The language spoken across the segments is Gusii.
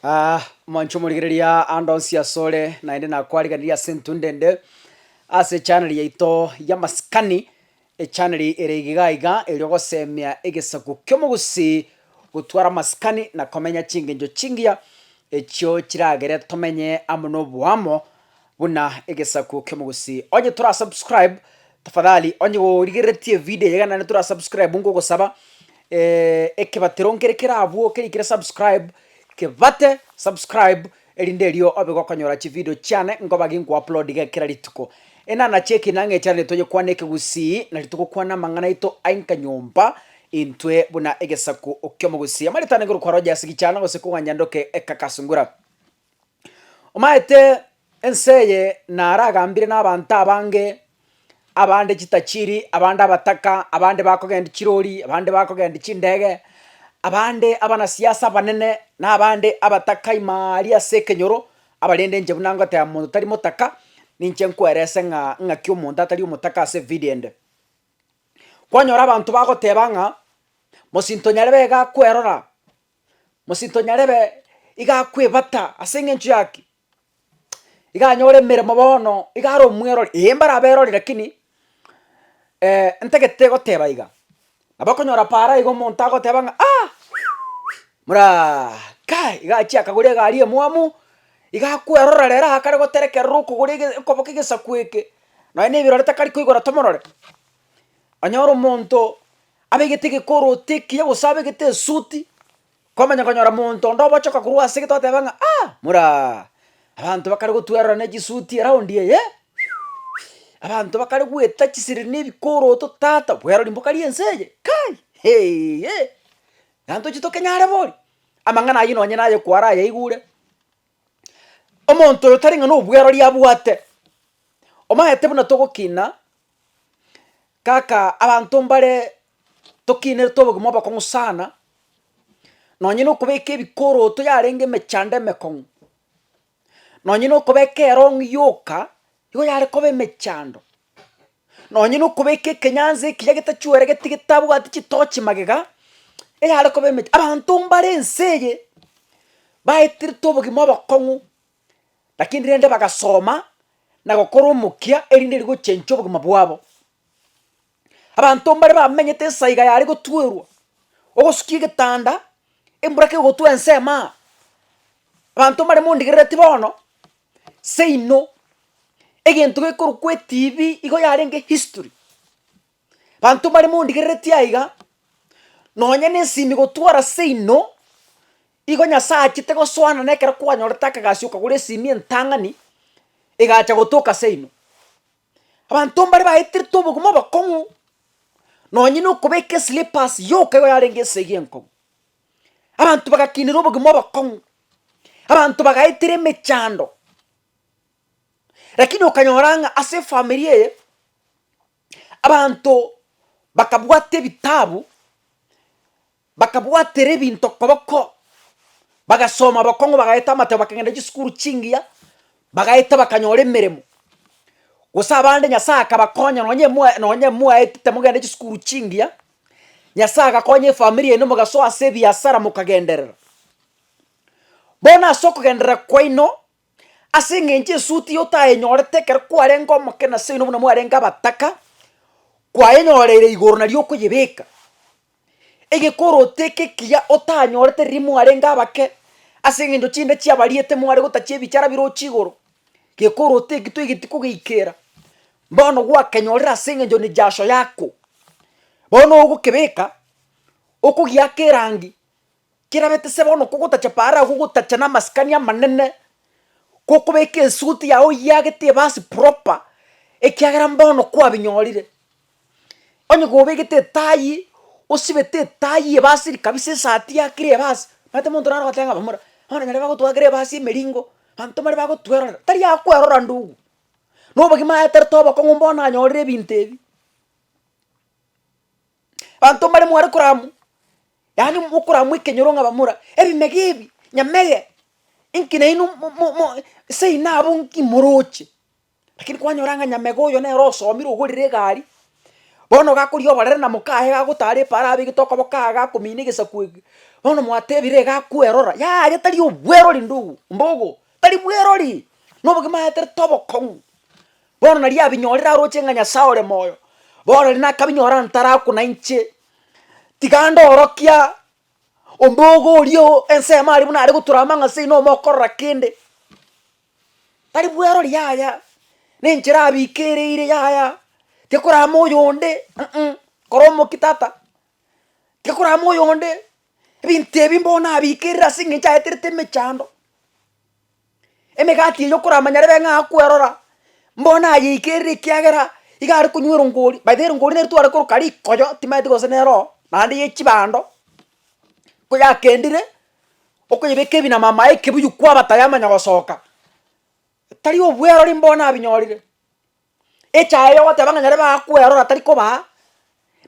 Aah, mwancho omorigereria ande onsi asore, naende nakwariganirie ase intwe ndende ase echaneri yaito yamasikani, echaneri ere iga iga eri ogosemia egesaku ki'omogusii gotwara amasikani na komenya chingencho chingiya echio chiragere tomenye amo na oboamo Buna egesaku kiomogusii. Onye tora subscribe tafadhali onye gorigereretie evideo eye iga naende tora subscribe ngogosaba ekebatero nkere kerabwo kerikire subscribe kebate subscribe erinde erio obe gokonyora chivideo chiane nkoba ginkoaplodiga kera rituko. Enana chia ekeinaga echanere toyekwane ekegusii nari togokwana amang'ana aito aenka nyomba intwe buna egesaku kiomogusii. Amaretano ekero kwaroche ase gichana gose koganja ndoke ekakasungura. Omaete ense eye naragambire nabaanto abange, abande chitachiri, abande abataka, abande bakogendia chirori, abande bakogendia chindege, abande abanasiasa abanene, na abande abataka imaa aria ase ekenyoro, abarende inche buna ngoteba monto tari motaka, ninche nkwerese ng'a ng'aki omonto atari omotaka ase evidio ende. Kwanyora abanto bagoteba ng'a mosinto nyarebe iga kwerora. Mosinto nyarebe iga akwebata ase eng'encho yaki, iga anyore emeremo bono, iga are omwerori, ee mbare aberori rakini ntagete goteba iga, nabo okonyora paara iga omonto agoteba ng'a aah muraah kai iga achia akagora egari emwamu, iga akwerora rero aakare goterekerera okogora ege okoboka egesaku eke, nonye na ebirore takari koigora tomorore. Onyore omonto abegete egekoroto ekiya gose abegete esuti, kwamanya konyora monto onde obochoka korwa ase egete oteba ng'a aah moraa abanto bakare gotwererana chisuti eraundi eye abanto bakare goeta chisiri na ebikoroto tata bwerori mboka ri'ense eye kai heeiye, na ntochi tokenyare boria, amang'ana aywo nonye naye kwara ayaigure, omonto oyo tari ng'a nobwerori abwate, omanyete buna togokina. Kaka abanto mbare tokinerete obogima obokong'u sana, nonye na okobeka ebikoroto yarenge emechando emekong'u, nonye na okobeka erong'i yoka igo yare koba emechando, nonye na okobeka ekenyanso ekiya getachueregeti getabwati chitochi magega, eyare koba emecha abanto mbare ense eye, baeterete obogima obokong'u Lakini rende bagasoma na gokora omokia erinde rigochenchia obogima bwabo. Abanto mbare bamenyete esaiga yare gotuerwa, ogosukia egetanda, embura kegotwa ensemo aa, abanto mbare mondigerereti bono, seino egento gekorokwa etibi igo yarenge history. Banto mbare mondigereretie aiga, nonye na esimi gotwara seino, igo Nyasaye achete gosoana na ekero kwanyorete akagasi okagora esimi entang'ani, egacha gotoka seino. Abanto mbare baeterete obogima obokong'u, nonye na okobeka eslippers yoka igo yarenge esegi enkong'u. Abanto bagakinire obogima obokong'u, abanto bagaetera emechando, lakini okanyora ng'a ase efamiri eye. Abanto bakabwata ebitabu, bakabwatera ebinto koboko, bagasoma bokong'u bagaeta amatebo bakagenda chisukuru chingiya, bagaeta bakanyora emeremo. Gose abande Nyasaye akabakonya nonye mwa nonye mwaetete mogende chisukuru chingiya, Nyasaye agakonya efamiri yaino mogasoa ase ebiasara mokagenderera. Bono ase okogenderera kwaino, Ase eng'encho esuti eye otayenyorete ekero kwarenge omokina ase oino buna mwarenge abataka, kwayenyoreire igoro nario okoyebeka, egekoro oteke ekiya otanyorete riria mwarenge abake, ase eng'encho chinde chiabariete mware gotachia ebichara birochi igoro, gekoro oteki toigeti kogeikera, bono gwakenyorire ase eng'encho ne jasho yako, bono ogokebeka, okogiaka erangi, Kerabete se bono kogotacha para agwo gotacha namasikani amanene, gokobeka esuit yago oyiagete ebasi proper, ekiagera mbono kwabinyorire. Onye gobegete etayi, osibete etayi ebasiri kabisa esati yakire ebasi, omanyete monto naro ogoteba ng'a bamura, bono nyarebe bagotwakera ebasi emeringo, abanto mbare bagotwerora, tari akwerora ndugu. Nobogima aeterete obokong'u bono anyorire ebinto ebi. Banto mbare mware koramu, yaani mokoramu ekenyoro ng'a bamura, ebimege ebi, nyamege, inki nainwe mo- mo- mo seino abwo nki moroche? Lakini kwanyora ng'a nyamege oyo nere osomire ogorire egari, bono ogakoria oborere na mokaye gagotara epaara abegete okoboko aa gakomina egesaku eke, bono mwatebire iga akwerora, yaya tari obwerori ndugu mbogo, tari bwerori, na obogima aeterete obokong'u. Bono nariabinyorire aroche ng'a Nyasae ore moyo, bono riria nakabinyora ntarakwa nainche, tiga ndorokia ombogo oria o ensemo aria buna are gotura amang'a ase inwe omokorora kende. Tari bwerori yaya, na enchera abike ere ire yaya, tikorama oyonde uh-uh, kora omokia tata, tikorama oyonde, ebinto ebi mbono nabikerire ase eng'encho aeterete emechando. Emegati eyio okoramanyarere ng'a akwerora, mbono nayeikeire ekiagera iga are konywa erongori, by the way erongori neri tware koroka rikoyo timanyeti gose nero oo, naende ya echibando, ko yakendire okoyebeka ebi na mamaye ekebuyu kwaba tayamanya gosoka, tari obwerori mbono nabinyorire. Echaye yogoteba ng'a nyare bakwerora tari kobaa,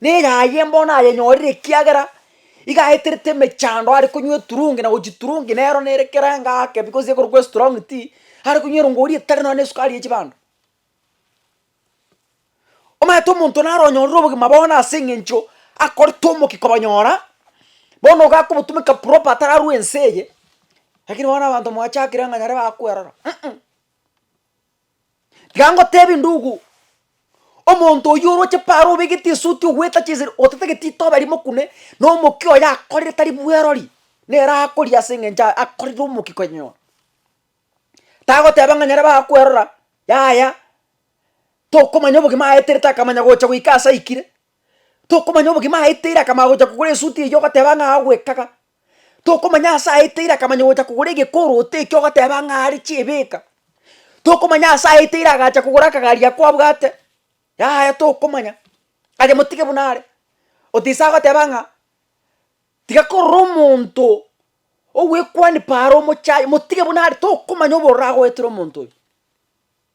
neyaye mbono ayenyorire ekiagera iga aeterete emechando are konywa eturungi na gochi turungi nero nere kere ngake because ekorokwa estrong tea, are konywa erongori etari nonya na esukari ya chibando. Omanyete omonto naro onyorire obogima bono ase eng'encho akorete omokia kobanyora, bono iga akobotumeka proper atararwa ense eye, lakini bono abanto mwachakire ng'a nyare bakwerora uh-uh. Tiga ngotebi, ndugu, omonto oyio oroche paro obegete esuti ogoeta chinsiri otatagete itoba erimo kune, na omokia oye akorire tari bwerori, nere akoria ase eng'encho a- akorire omokia konyora. Tagoteba ng'a nyare bakwerora, yaya, tokomanya obogima aeterete akamanya gocha goika ase aikire, tokomanya obogima aeteire akamanya gocha kogora esuti eyio ogoteba ng'a agoekaga, Tokomanya ase aeteire akamanya gocha kogora egekorooto ekio ogoteba ng'a are chiebeka, tokomanya ase aeteire agacha kogora akagari ako abwate, yaya tokomanya, aye motige buna are, otisaa goteba ng'a tiga korora omonto ogwekwanipa are omochaye motige buna are tokomanya obororo agoetera omonto oyo.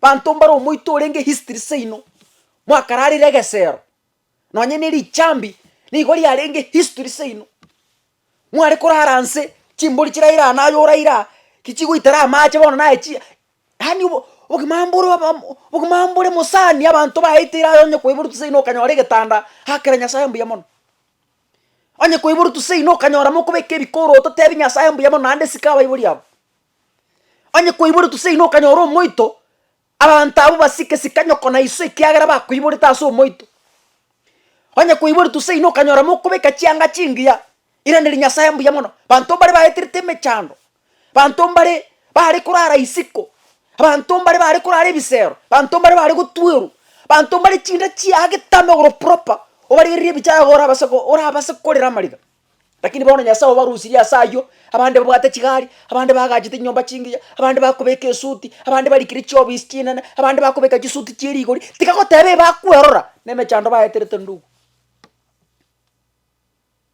Banto mbare omoito orenge history seino, mwakararire egesero, nonye ne richambi nigo riarenge history seino, mware korara anse chimbori chiraire aa naye oraire aa, ki chigoitera amache bono naye chi yaani obo obogima mbore obom obogima mbore mosani abanto baeteire aye onye koiboruti seino okanyora egetanda akera Nyasaye mbuya mono. Onye koiboruti seino okanyora mokobeka ebikoroto otebi Nyasaye mbuya mono naende sika abaibori abo. Onye kwaiboretwe seino okanyora omoito, abanto abwo basike sika nyoko na iso ekiagera bakoiborete ase omoito. Onye kwaiboretwe seino okanyora mokobeka chianga chingiya, iranderia Nyasaye mbuya mono. Banto mbare baeterete emechando, banto mbare bare korara isiko, abanto mbare bare korara ebisero, banto mbare bare gotwerwa, banto mbare chinda chiagetame igoro proper, obarigererie ebichaya iga orabase go orabase korera amariga. Lakini bono Nyasae obarusirie ase ayio, abande babwate chigari, abande bagachete chinyomba chingiya, abande bakobeka esuti, abande barikire chiofisi chinene, abande bakobeka chisuti chie rigori, tiga goteba ebakwerora na emechando baeterete ndugu,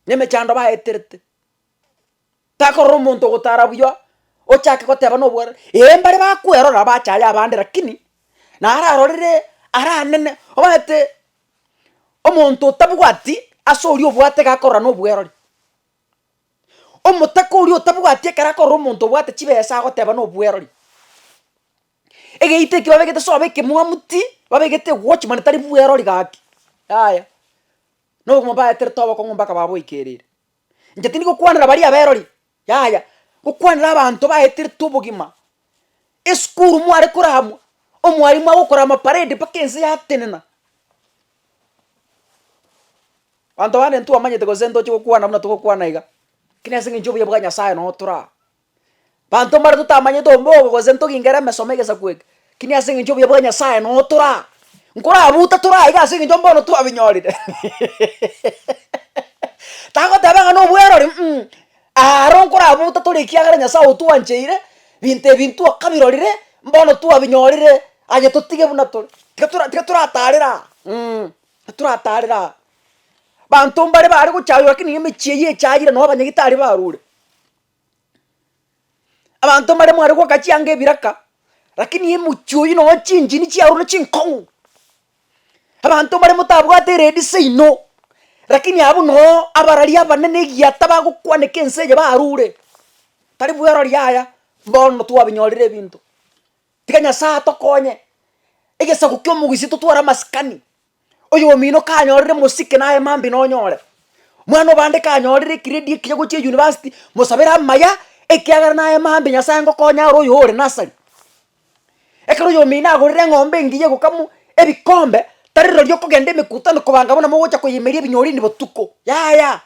na emechando baeterete. Takorora omonto ogotara buya ochake goteba na obwarero, ee mbare bakwerora bachaye abande lakini naro arorire aranene omanyete Omonto otabwati ase oria obwate iga akorora nobwerori. Omotaka oria otabwati ekero akorora omonto obwate chibesa agoteba nobwerori. Egeita ekio babegete sobo ekemwamuti, babegete ewatch mana tari bwerori gaki, yaya. Nobomo baeterete obokong'u mpaka baboikerire. Inche tindi gokwanera baria aberori, yaya, gokwanera abanto baeterete obogima. Esukuru mware koramwa, omwarimu agokora amaparade mpaka ense yatenena. Abanto bande ntwamanyete gose ntoche gokwana buna togokwana iga, lakini ase eng'encho obuya bwa Nyasaye notoraa. Banto mbare totamanyete ombe obo gose ntogingere emesoma egesaku eke, kini ase engencho obuya bwa Nyasaye notora. Nkorabuta tore aiga ase engencho mbono twabinyorire tagoteba ng'a nobwerori mm, aro nkorabuta tore ekiagera Nyasaye otwancheire, binto ebi ntwakabirorire, mbono twabinyorire, aye totige buna tore. Tiga tora tiga toratarere aa mm, toratarere aa. Banto mbare bare gochaywa lakini emechie eyio echayire noo abanyagitari barure. Abanto mbare mware goka chianga ebiraka, rakini emochie oywo nonya chinchini chiarure na chinkong'u, abanto mbare motabwate eredi seino, rakini abwo nooo abarari abanene egiata bagokwaneka ense eye barure, tari bwerori yaya, bono twabinyorire ebinto, tiga nyasae atokonye, egesaku kia omogusii totware amasikani. Oyomino kanyorire mosike naye mambia nonyore, mwana obande kanyorire ekiredi ekiya gochia eyunivasiti mosabere amaya ekiagera naye mambia Nyasaye ngokonye are oyo ore nasari. Ekero oyomino agorire eng'ombe engiya egokamwa ebikombe tari rirorio okogenda emekutano kobanga bono mogocha koyemeria ebinyorini botuko yaya.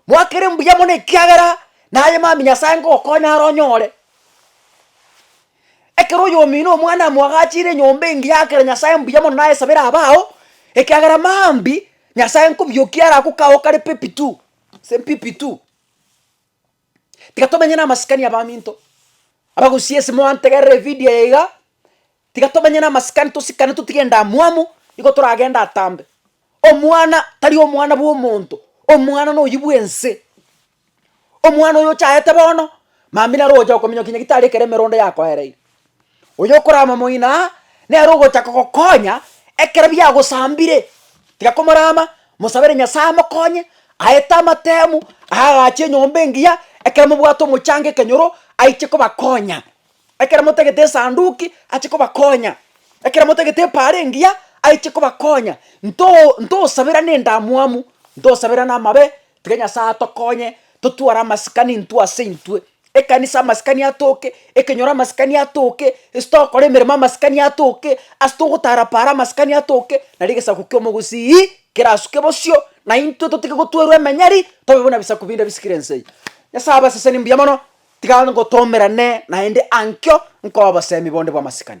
Mwakere mbuya mono ekiagera naye mambia Nyasae ngokonya are onyore. Ekero oyomino omwana amo agachire enyomba engiya agakera Nyasae mbuya mono naye esabere abe ao, ekiagera mambi Nyasae nkobiokia arakokago kare pepi tu, ase mpipi tu. Tiga tomenye na amasikani abaminto, abagusia ase moantegerere evidio eye iga, tiga tomenye na amasikani tosikane totige endamwamu, nigo toragende atambe. Omwana tari omwana bwa omonto, omwana noyio bwa ense, omwana oyo ochaete bono, mambi naro ogocha kominyokia nyagitari ekero emerondo yakoereire. Oyokorama omoina aa, nere ogocha kogokonya ekero biagosambire. Tiga komorama, mosabere Nyasae amokonye, aete amatemu, aagache enyomba engiya, ekero mobwate omochanga ekenyoro, aiche kobakonya. Ekero motagete esanduki, ache kobakonya, ekero motagete epaara engiya, aiche kobakonya. Nto ntosaberane endamwamu, ntosaberane amabe, Tiga Nyasae atokonye totware amasikani intwe ase intwe, ekanisa amasikani atoke, ekenyoro amasikani atoke, ase tokora emeremo amasikani atoke, ase togotara para amasikani atoke, nari egesaku kia omogusii kerasuke bosio, na intwe totige gotwerwa emenyeri, tobe buna ebisaku binde bisikire ense eye. Nyasae abaseseni mbuya mono, tiga ngotomerane naende ankio nkoe obosemi bonde bw'amasikani.